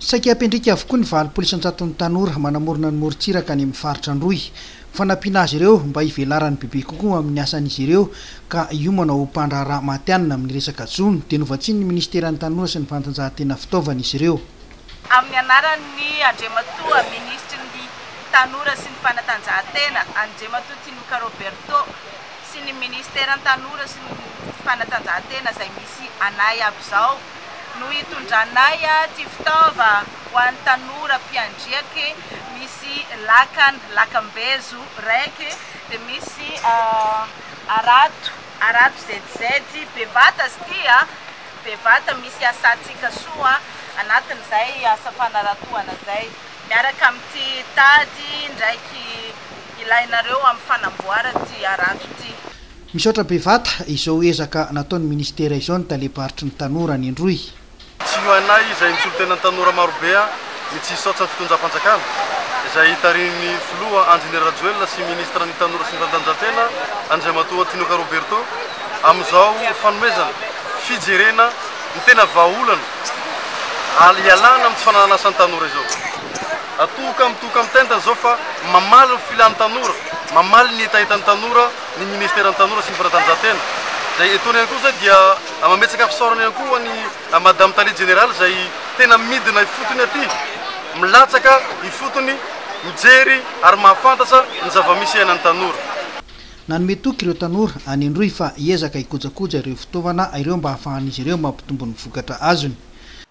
Saika hampendrika avokoa ny valopolo isan-jaton'ny tanora manamorona ny morontsiraka any amin'ny faritra Androy. Ho fanampiana azy ireo mba hivelaran'ny bebe kokoa amin'ny asan'izy ireo ka hiomana ho mpandraharaha matihanina amin'ny resaka jono dia novatsian'ny minisiteran'ny Tanora sy ny fanatanjahantena fitaovana izy ireo. Amin'ny anaran'ny Andriamatoa Minisitry ny Tanora sy ny fanatanjahantena, Andriamatoa Tinoka Roberto, sy ny ministeran'ny tanora sy ny fanatanjahantena izay misy anay aby izao no hitondranay ty fitaova ho an'ny tanora mpiandriake misy lakan lakambezo raiky dia misy arato arato zed zed bevata izy ty a bevata misy asantsika soa anatin'izay asa fanaratohana izay miaraka amin'ity tady ndraiky ilainareo amin'ny fanamboarana ity harato ity. Misaotra bevata izao ezaka nataon'ny ministera izao ny talem-paritry ny tanora any Androy. Tsy hoanay izay misolo-tena ny tanora marobe ny tsy hisaotsa ny fitondram-panjakana izay hitarihin'ny filoha Andry Nirarajoelina sy ministra ny tanora sy ny fanatanjahantena Andriamatoa Tinoka Roberto amin'izao fanomezana fijerena ny tena vahaolana hialana amin'ny tsy fananan'asan'ny tanora izao. Atohoka mitohoka mitentana izao fa mamaly ny filan'ny tanora, mamaly ny hetahetan'ny tanora ny ministeran'ny Tanora sy ny fanatanjahantena. Izay etoana ihany koa izay dia mametsaka fisaorana ihany koa ho an'i Madame Tale Jeneraly izay tena midina ifotony aty, milatsaka ifotony, mijery ary mahafantatra ny zava-misy iainan'ny tanora. Nanome toky ireo tanora any Androy fa hiezaka hikojakoja ireo fitaovana ireo mba hahafahan'izy ireo mampitombo ny vokatra azony.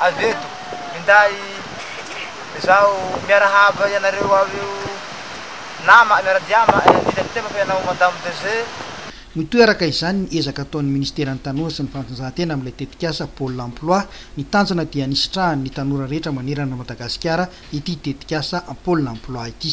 Avy eto, minday izaho miarahaba ianareo ao io nama miara-dia ama eh, ny tetepako ianao Madame DG. Mitoeraka izany ny ezaka ataon'ny Ministeran'ny Tanora sy ny Fanatanjahantena amin'ilay tetikasa Pôle Emploi. Ny tanjona dia ny hisitrahan'ny tanora rehetra manerana an'i Madagasikara ity tetikasa Pôle Emploi ity.